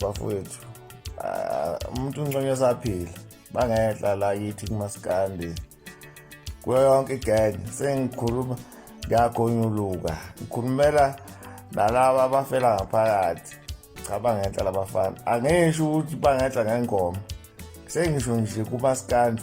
bafowethu ah, umuntu unconywa esaphila bangehla la yithi kumasikandi kuyo yonke igang sengikhuluma ngiyagonyuluka ngikhulumela nalaba abafela ngaphakathi cha bangenhla labafana angisho ukuthi bangenhla ngengoma sengisho nje kumasikandi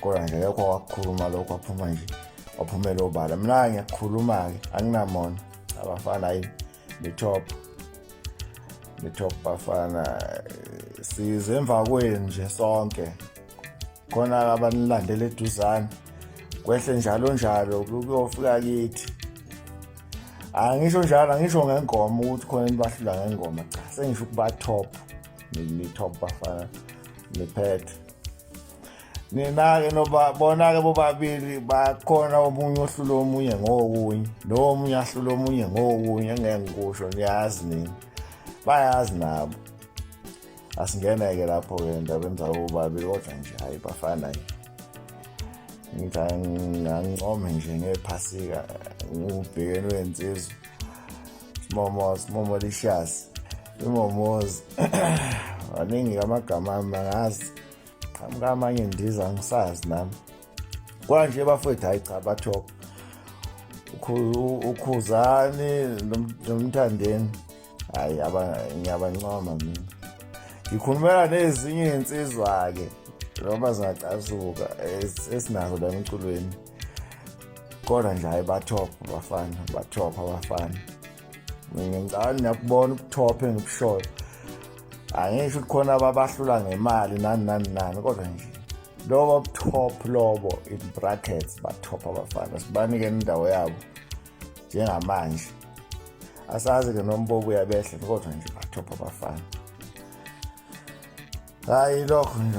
kodwa nje yekho wakukhuluma lokho waphuma nje waphumela obala mina ngiyakhuluma-ke anginamona abafana hayi nitop nitop bafana size emva kwenu nje sonke khona abanilandela eduzane kwehle njalo njalo kuyofika kithi angisho njalo angisho ngengoma ukuthi khona nibahlula ngengoma cha sengisho ukuba top ni-top bafana niphethe nina-ke bona-ke bobabili bakhona omunye ohlula omunye ngokunye lowo omunye ahlula omunye ngokunye engeke ngikusho niyazi nini bayazi nabo asingene-ke lapho-ke endabeni zabo bobabili kodwa nje hhayi bafana nje ngangincome nje ngephasika ngubhekeni wensizwa smomo smomo lishasi imomozi maningi kamagama ami angazi qhamuka amanye ndiza ngisazi nami kwanje bafowethu hayi cha bathoka ukhuzani nomthandeni hayi ngiyabancoma mina ngikhulumela nezinye iy'nsizwa-ke noma zingacasuka esinazo la emculweni kodwa nje hayi bathopha bafana bathopha bafana mina ngicabanga niyakubona ubuthophe nobusholo angisho ukuthi khona ababahlula ngemali nani nani nani kodwa nje lobo top lobo in brackets batop abafana sibanike indawo yabo njengamanje asazi-ke nombobo uyabehle kodwa nje batop abafana hhayi lokho nje